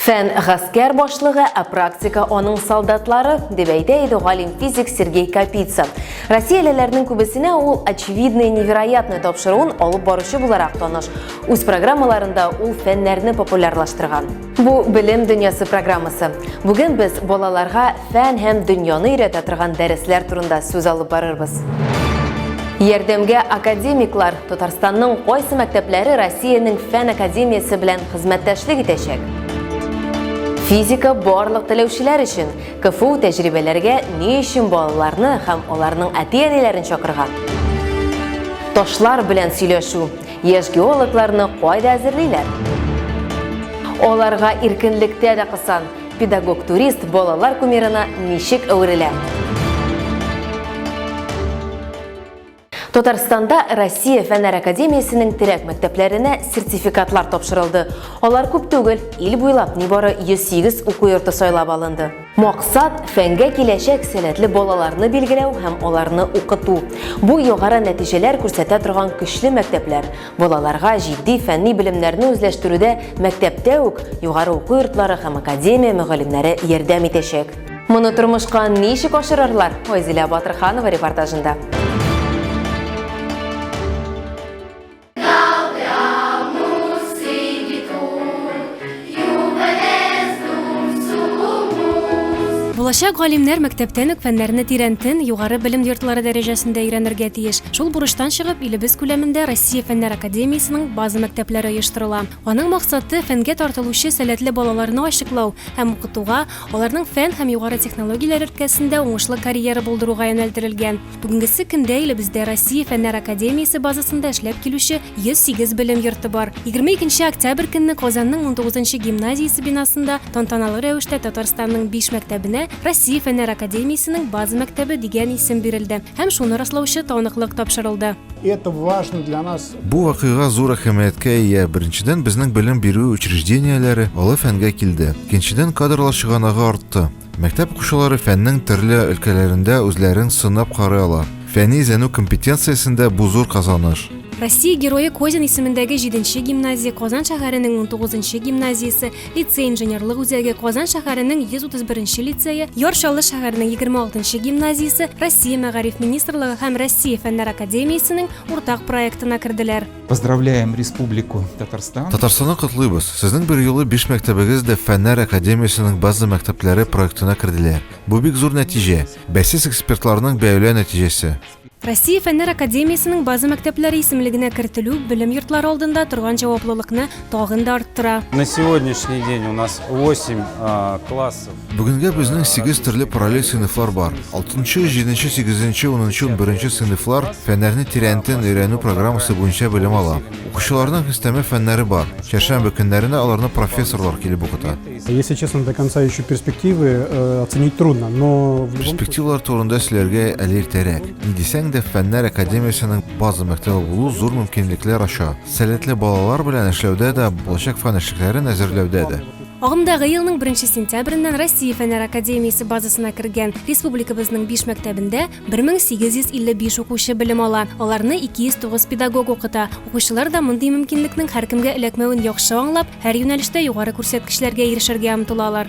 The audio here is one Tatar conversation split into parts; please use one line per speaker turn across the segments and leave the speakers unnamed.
Фән гаскәр башлыгы, ә практика аның солдатлары, дип әйтә иде галим физик Сергей Капица. Россиялеләрнең күбесенә ул очевидное невероятное тапшыруын алып баручы буларак таныш. Үз программаларында ул фәннәрне популярлаштырган. Бу белем дөньясы программасы. Бүген без балаларга фән һәм дөньяны өйрәтә торган дәресләр турында сүз алып барырбыз. Ярдәмгә академиклар Татарстанның кайсы мәктәпләре Россиянең фән академиясе белән хезмәттәшлек итәчәк? Физика барлык теләүчеләр өчен КФУ тәҗрибәләргә ни өчен балаларны һәм аларның әти-әниләрен чакырга? Ташлар белән сөйләшү. Яшь геологларны кайда әзерлиләр? Аларга иркенлектә дә кысан. Педагог-турист балалар кумирына ничек әверелә? Татарстанда Россия фәннәр академиясенең терәк мәктәпләренә сертификатлар тапшырылды. Алар күп түгел, ил буйлап нибары 108 уку йорты сайлап алынды. Максат, фәнгә киләчәк сәләтле балаларны билгеләү һәм аларны укыту. Бу югары нәтиҗәләр күрсәтә торган көчле мәктәпләр. Балаларга җитди фәнни белемнәрне үзләштерүдә мәктәптә үк югары уку йортлары һәм академия мөгаллимнәре ярдәм итәчәк. Моны тормышка ничек ашырырлар? Айзилә Батырханова репортажында.
Булачак галимнәр мәктәптән үк фәннәрне тирәнтен, югары белем йортлары дәрәҗәсендә өйрәнергә тиеш. Шул бурычтан чыгып, илебез күләмендә Россия фәннәр академиясенең база мәктәпләре оештырыла. Аның максаты фәнгә тартылучы сәләтле балаларны ачыклау һәм укытуга, Аларның фән һәм югары технологияләр өлкәсендә уңышлы карьера булдыруга юнәлдерелгән. Бүгенгесе көндә илебездә Россия Фәннәр академиясе базасында эшләп килүче 108 белем йорты бар. 22 октябрь көнне Казанның унтугызынчы гимназиясе бинасында тантаналы рәвештә Татарстанның биш мәктәбенә Россия Фәннәр академиясенең база мәктәбе дигән исем бирелде һәм шуны раслаучы таныклык тапшырылды. Это важно для
нас Бу вакыйга зур әһәмияткә ия. Беренчедән, безнең белем бирү учреждениеләре олы фәнгә килде. Икенчедән, кадрлар чыганагы артты. Мәктәп укучылары фәннең төрле өлкәләрендә үзләрен сынап карый ала. Фәнни эзләнү компетенциясендә бу зур казаныш. Россия Герое
Козин исемендәге җиденче гимназия, Казан шәһәренең унтугызынчы гимназиясе, лицей-инженерлык үзәге, Казан шәһәренең 131 лицее, Яр Чаллы шәһәренең 26 гимназиясе, Россия Мәгариф министрлыгы һәм Россия Фәннәр академиясенең Уртак проектына керделәр. Поздравляем
Республику Татарстан. Татарстанны котлыйбыз.
Сезнең бер юлы биш мәктәбегез дә фәннәр академиясенең база мәктәпләре проектына керделәр. Бу бик зур нәтиҗә. Бәйсез экспертларның бәяләү нәтиҗәсе. Россия фәннәр
академиясенең база мәктәпләре исемлегенә кертелү белем йортлары алдында торган җаваплылыкны тагын да арттыра. На сегодняшний
день у нас 8 классов. Бүгенгә безнең
сигез төрле параллель сыйныфлар бар. Алтынчы, җиденче, сигезенче, унынчы, унберенче сыйныфлар фәннәрне тирәнтен өйрәнү программасы буенча белем ала. Укучыларның өстәмә фәннәре бар. Чәршәмбе көннәренә аларны профессорлар килеп укыта. Если честно, до
конца еще перспективы э, оценить трудно, но... Перспективалар турында
сөйләргә әле иртәрәк. Ни дисәң дә, фәннәр академиясенең база мәктәбе булу зур мөмкинлекләр ача. Сәләтле балалар белән эшләүдә дә, булачак фән эшлекләрен әзерләүдә дә. Агымдагы елның
беренче сентябреннән Россия Фәннәр академиясе базасына кергән республикабызның биш мәктәбендә 1855 укучы белем ала, аларны 209 педагог укыта. Укучылар да мондый мөмкинлекнең һәркемгә эләкмәвен яхшы аңлап, һәр юнәлештә югары күрсәткечләргә ирешергә омтылалар.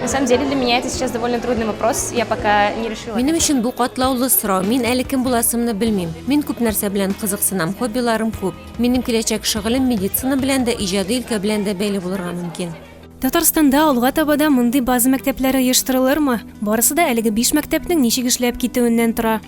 На самом деле для
меня это сейчас довольно трудный вопрос. Я пока не решила. Минем өчен бу катлаулы
сорау. Мин әле кем буласымны белмим. Мин күп нәрсә белән кызыксынам, хоббиларым күп. Минем киләчәк шөгылем медицина белән дә, иҗади өлкә белән дә бәйле булырга мөмкин. Татарстанда
алга таба да мондый база мәктәпләре оештырылырмы? Барысы да әлеге биш мәктәпнең ничек эшләп китүеннән тора.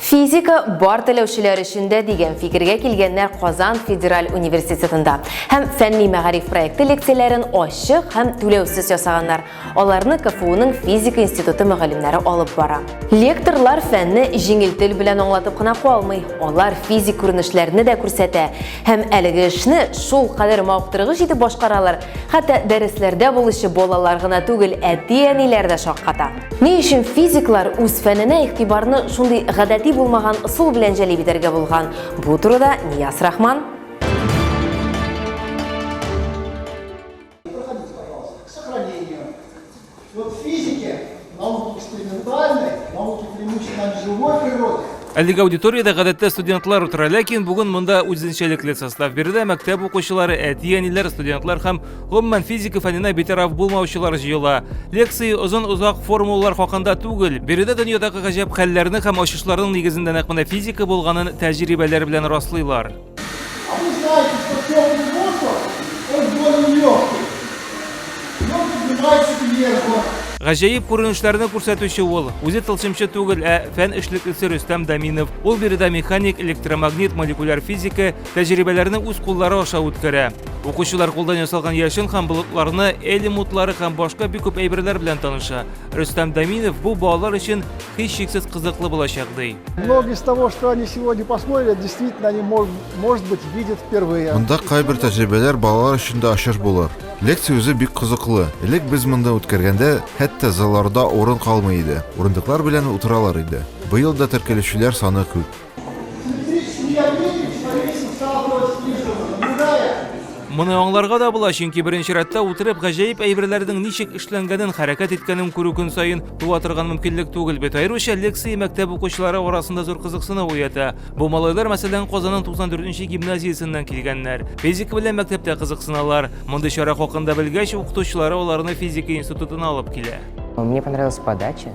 Физика бар теләүчеләр өчен дә дигән фикергә килгәннәр Казан федераль университетында һәм фәнни мәгариф проекты лекцияләрен ачык һәм түләүсез ясаганнар. Аларны КФУның физика институты мөгаллимнәре алып бара. Лекторлар фәнне җиңел тел белән аңлатып кына калмый, алар физик күренешләрне дә күрсәтә һәм әлеге эшне шул кадәр мавыктыргыч итеп башкаралар, хәтта дәресләрдә булучы балалар гына түгел, әти-әниләр дә шакката. Ни өчен физиклар үз фәненә игътибарны шундый гадәти булмаган ысул белән җәлеп итәргә булган? Бу турыда Нияз Рахман.
Проходите, пожалуйста, к сохранению. Вот в физике, науке экспериментальной, науке преимущественно живой природе, Әлеге аудиториядә гадәттә студентлар утыра, ләкин бүген монда үзенчәлекле состав бирде. Мәктәп укучылары, әти-әниләр, студентлар һәм гомумән физика фәненә битараф булмаучылар җыела. Лекция озын-озак формулалар хакында түгел, биредә дөньядагы гаҗәп хәлләрне һәм ачышларның нигезендә нәкъ менә физика булганын тәҗрибәләр белән раслыйлар. А вы знаете, что теплый воздух, он более легкий. И он поднимается вверх. Гаҗәеп күренешләрне күрсәтүче ул. Үзе тылсымчы түгел, ә фән эшлеклесе Рөстәм Даминов. Ул биредә механик, электромагнит, молекуляр физика тәҗрибәләрне үз куллары аша үткәрә. Укучылар кулдан ясалган яшен һәм болытларны, элемутлары һәм башка бик күп әйберләр белән таныша. Рөстәм Даминов бу балалар өчен һичшиксез кызыклы булачак, ди. Многие из того, что
они сегодня посмотрели, действительно они, может быть, видят впервые. Монда кайбер
тәҗрибәләр балалар өчен дә ачыш булыр. Лекция үзе бик кызыклы. Элек без монда үткәргәндә, хәтта залларда урын калмый иде. Урындыклар белән утыралар иде. Быел да теркәлүчеләр саны күп.
Моны аңларга да була, чөнки беренче рәттә утырып гаҗәеп әйберләрнең ничек эшләнгәнен, хәрәкәт иткәнен күрү көн саен туа торган мөмкинлек түгел бит. Аеруча лекция мәктәп укучылары арасында зур кызыксыну уята. Бу малайлар, мәсәлән, Казанның 94 нче гимназиясеннән килгәннәр. Физика белән мәктәптә кызыксыналар. Мондый чара хакында белгәч, укытучылары аларны физика институтына алып килә.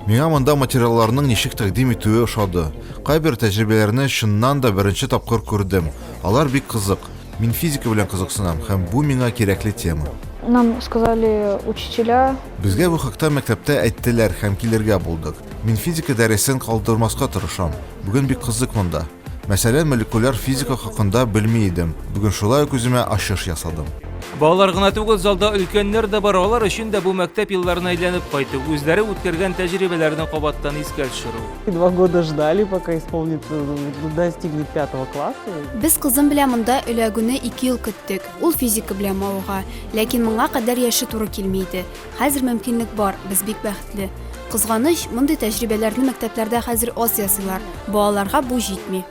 Миңа монда материалларның
ничек тәкъдим итүе ошады. Кайбер тәҗрибәләрне чыннан да беренче тапкыр күрдем. Алар бик кызык. Мин физика белән кызыксынам һәм бу миңа кирәкле тема. Нам сказали
учителя. Безгә бу хакта
мәктәптә әйттеләр һәм килергә булдык. Мин физика дәресен калдырмаска тырышам. Бүген бик кызык монда. Мәсәлән, молекуляр физика хакында белми идем. Бүген шулай ук үземә ачыш ясадым. Балалар гына
түгел, залда өлкәннәр дә бар. Алар өчен дә бу мәктәп елларына әйләнеп кайту, үзләре үткәргән тәҗрибәләрне кабаттан искә төшерү. Два года ждали,
пока исполнится, достигнет пятого класса. Без кызым белән
монда эләгүне ике ел көттек. Ул физика белән мавыга, ләкин моңа кадәр яше туры килми иде. Хәзер мөмкинлек бар, без бик бәхетле. Кызганыч, мондый тәҗрибәләрне мәктәпләрдә хәзер аз ясыйлар. Балаларга бу җитми.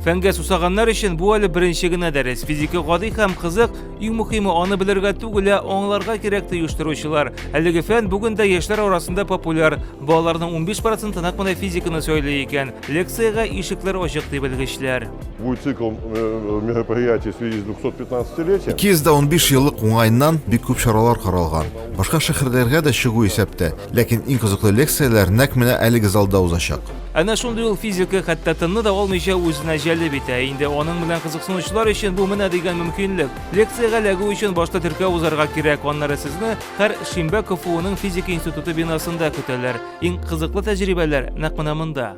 Фәнгә сусаганнар
өчен бу әле беренче генә дәрес. Физика гади һәм кызык, иң мөһиме аны белергә түгел, ә аңларга кирәк ди оештыручылар. Әлеге фән бүген дә яшьләр арасында популяр. Балаларның 15 проценты нәкъ менә физиканы сөйли икән. Лекциягә ишекләр ачык ди белгечләр. Будет цикл э,
мероприятий в связи с 215-летием. 215 еллык
уңайыннан бик күп чаралар каралган. Башка шәһәрләргә дә чыгу исәптә. Ләкин иң кызыклы лекцияләр нәкъ менә әлеге залда узачак. Әнә шундый ул
физика, хәтта тынны да алмыйча үзенә җәлеп итә. Инде аның белән кызыксынучылар өчен бу менә дигән мөмкинлек. Лекциягә эләгү өчен башта теркәү узарга кирәк, аннары сезне һәр шимбә КФУның физика институты бинасында көтәләр. Иң кызыклы тәҗрибәләр нәкъ менә монда.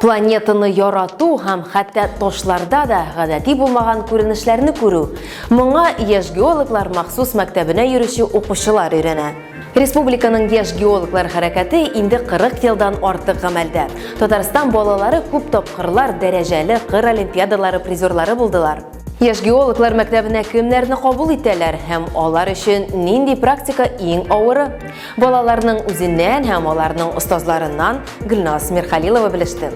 Планетаны ярату һәм хәтта ташларда да гадәти булмаган күренешләрне күрү. Моңа яшь геологлар махсус мәктәбенә йөрүче укучылар өйрәнә. Республиканың яшь геологлар хәрәкәте инде 40 елдан артык гамәлдә. Татарстан балалары күп тапкырлар дәрәҗәле кыр олимпиадалары призерлары булдылар. Яшь геологлар мәктәбенә кемнәрне кабул итәләр һәм алар өчен нинди практика иң авыры? Балаларның үзеннән һәм аларның остазларыннан Гөлназ Мирхалилова белеште.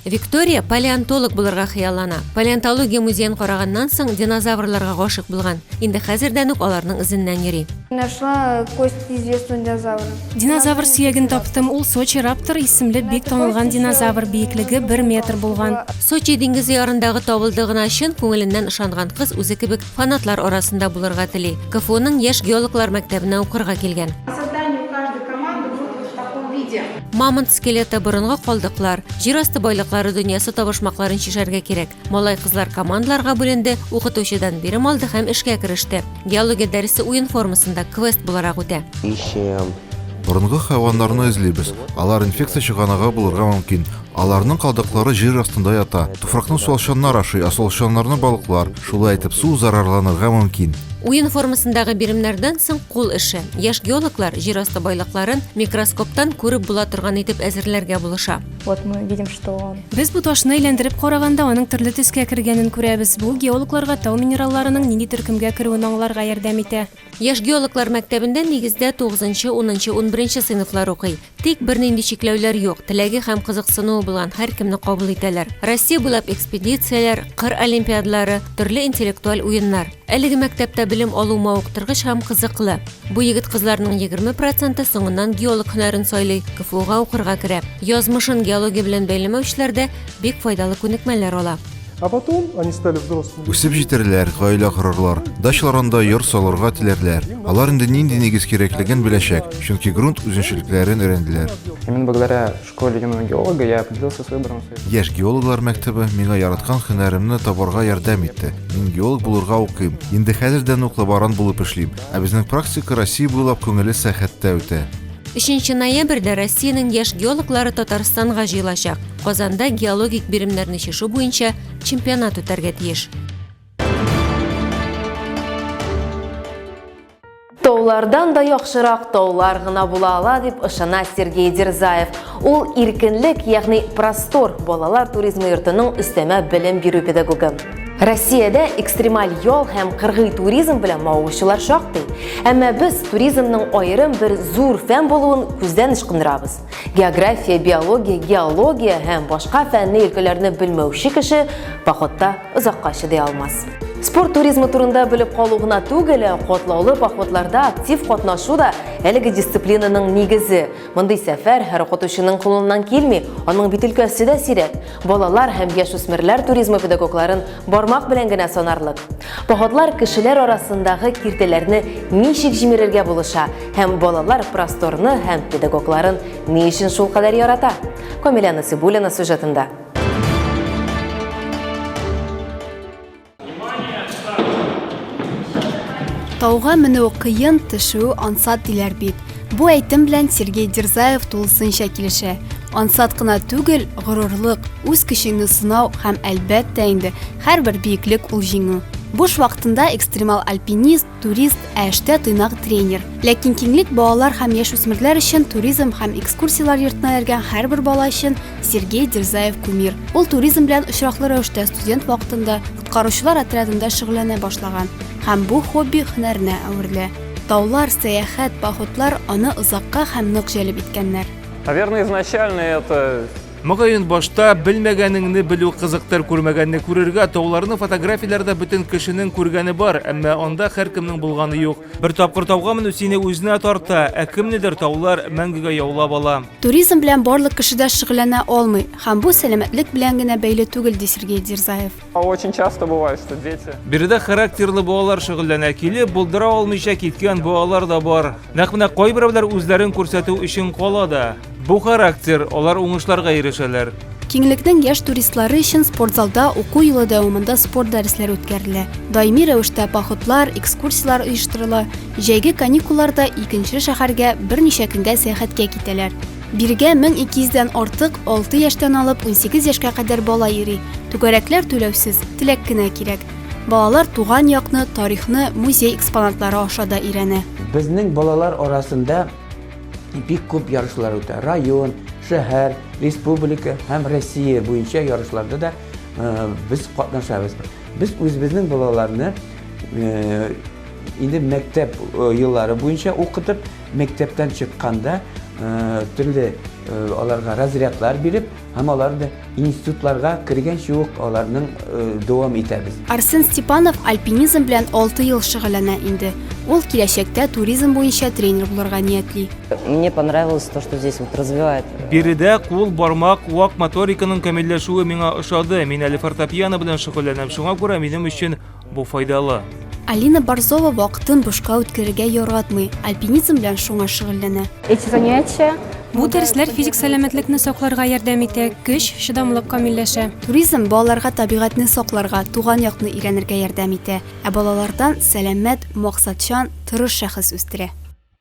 Виктория палеонтолог булырга хыяллана. Палеонтология музеен караганнан соң динозаврларга гашык булган. Инде хәзердән үк аларның эзеннән йөри. Нашла кость
известны динозавры. Динозавр сөяген
таптым. Ул Сочи раптор исемле бик танылган динозавр биеклеге 1 метр булган. Сочи диңгезе
ярындагы табылды гына чын күңеленнән ышанган кыз үзе кебек фанатлар арасында булырга тели. КФУның яшь геологлар мәктәбенә укырга килгән. Мамонт скелеты, борынгы калдыклар, җир асты байлыклары дөньясы табышмакларын чишәргә кирәк. Малай-кызлар командаларга бүленде, укытучыдан бирем алды һәм эшкә кереште. Геология дәресе уен формасында квест буларак үтә. Ищем.
Борынгы хайваннарны эзлибез. Алар инфекция чыганагы булырга мөмкин. Аларның калдыклары җир астында ята. Туфракны суалчаннар ашый, ә суалчаннарны балыклар. Шулай итеп, су зарарланырга мөмкин. Уен
формасындагы биремнәрдән соң кул эше. Яшь геологлар җир асты байлыкларын микроскоптан күреп була торган итеп әзерләргә булыша. Вот мы видим, что
он... Без бу ташны әйләндереп
караганда аның төрле төскә кергәнен күрәбез. Бу геологларга тау минералларының нинди төркемгә керүен аңларга ярдәм итә. Яшь геологлар
мәктәбендә нигездә 9-нчы, 10-нчы, 11-нче сыйныфлар укый. Тик бернинди чикләүләр юк. Теләге һәм кызыксынуы булган һәркемне кабул итәләр. Россия буйлап экспедицияләр, кыр олимпиадалары, төрле интеллектуаль уеннар. Әлеге мәктәптә белем алу мавыктыргыч һәм кызыклы. Бу егет-кызларның егерме проценты соңыннан геолог һөнәрен сайлый, КФУга укырга керә. Язмышын геология белән бәйләмәүчеләрдә бик файдалы күнекмәләр ала. А потом они
стали взрослыми. Үсеп җитәрләр,
гаилә корырлар. Дачаларында йорт салырга теләрләр. Алар инде нинди нигез кирәклеген беләчәк, чөнки грунт үзенчәлекләрен өйрәнделәр. Имин бөгеләре
школе юного геолога я определился с выбором своей... Яшь геологлар
мәктәбе миңа яраткан һөнәремне табарга ярдәм итте. Мин геолог булырга укыйм. Инде хәзердән ук лаборант булып эшлим. Ә безнең практика Россия буйлап күңелле сәяхәттә үтә. 3
ноябрьдә Россиянең яшь геологлары Татарстанга җыелачак. Казанда геологик биремнәрне чишү буенча чемпионат үтәргә тиеш.
Таулардан да яхшырак таулар гына була ала дип ышана Сергей Дерзаев. Ул иркенлек, ягъни простор балалар туризмы йортының өстәмә белем бирү педагогы. Россиядә экстремаль ял һәм кыргый туризм белән мавыгучылар шактый. Әмма без туризмның аерым бер зур фән булуын күздән ычкындырабыз. География, биология, геология һәм башка фәнни өлкәләрне белмәүче кеше походта озакка чыдый алмас. Спорт туризмы турында белеп калу гына түгел, котлаулы походларда актив катнашу да әлеге дисциплинаның нигезе. Мондый сәфәр һәр укытучының кулыннан килми, аның бит өлкәсе дә сирәк. Балалар һәм яшүсмерләр туризмы педагогларын бармак белән генә санарлык. Походлар кешеләр арасындагы киртәләрне ничек җимерергә булыша, Һәм балалар просторны һәм педагогларын ни өчен шул кадәр ярата? Камилә Насибуллина сюжетында.
Тауга менү кыен, төшү ансат диләр бит. Бу әйтем белән Сергей Дерзаев тулысынча килешә. Ансат кына түгел, горурлык, үз көчеңне сынау һәм әлбәттә инде һәрбер биеклек ул җиңү. Буш вакытында экстремал альпинист Турист, ә эштә тыйнак тренер. Ләкин киңлек балалар һәм яшүсмерләр өчен туризм һәм экскурсияләр йортына йөргән һәрбер бала өчен Сергей Дерзаев кумир. Ул туризм белән очраклы рәвештә студент вакытында коткаручылар отрядында шөгыльләнә башлаган һәм бу хобби һөнәренә әверелә. Таулар, сәяхәт, походлар аны озакка һәм нык җәлеп иткәннәр. Наверное, изначально
это Мөгаен, башта
белмәгәнеңне белү кызыктыр, күрмәгәнне күрергә, тауларны фотографияләрдә бөтен кешенең күргәне бар, әмма анда һәркемнең булганы юк. Бер тапкыр тауга менү сине үзенә тарта, ә кемнедер таулар мәңгегә яулап ала. Туризм белән барлык
кеше дә шөгыльләнә алмый, һәм бу сәламәтлек белән генә бәйле түгел, ди Сергей Дерзаев. Очень часто
бывает, что дети... Биредә характерлы
балалар шөгыльләнә килеп, булдыра алмыйча киткән балалар да бар. Нәкъ менә кайберәүләр үзләрен күрсәтү өчен кала да. Бу характер, алар уңышларга ирешәләр. Киңлекнең яшь
туристлары өчен спортзалда уку елы дәвамында спорт дәресләре үткәрелә. Даими рәвештә походлар, экскурсиялар оештырыла. Җәйге каникулларда икенче шәһәргә берничә көнгә сәяхәткә китәләр. Бирегә 1200 дән артык 6 яшьтән алып 18 яшькә кадәр бала йөри. Түгәрәкләр түләүсез, теләк кенә кирәк. Балалар туган якны, тарихны музей экспонатлары аша да өйрәнә. Безнең балалар
арасында бик күп ярышлар үтә. Район, шәһәр, республика һәм Россия буенча ярышларда да без катнашабыз. Без үзебезнең балаларны инде мәктәп еллары буенча укытып, Мәктәптән чыкканда төрле аларга разрядлар биреп, һәм аларны институтларга кергәнче үк аларның дәвам итәбез. Арсен Степанов
альпинизм белән 6 ел шөгыльләнә инде. Ул киләчәктә туризм буенча тренер булырга ниятли. Мне понравилось
то, что здесь вот развивает. Биредә кул,
бармак, вак моториканың камилләшүе миңа ошады. Мин әле фортепиано белән шөгыльләнәм, шуңа күрә минем өчен Бу файдалы. Алина Борзова
вакытын бушка үткәрергә яратмый, альпинизм белән шуңа шөгыльләнә. Эти занятия
Бу дәресләр
физик сәламәтлекне сакларга ярдәм итә, көч, чыдамлык камилләшә. Туризм балаларга
табигатьне сакларга, туган якны өйрәнергә ярдәм итә, ә балалардан сәламәт, максатчан, тырыш шәхес үстерә.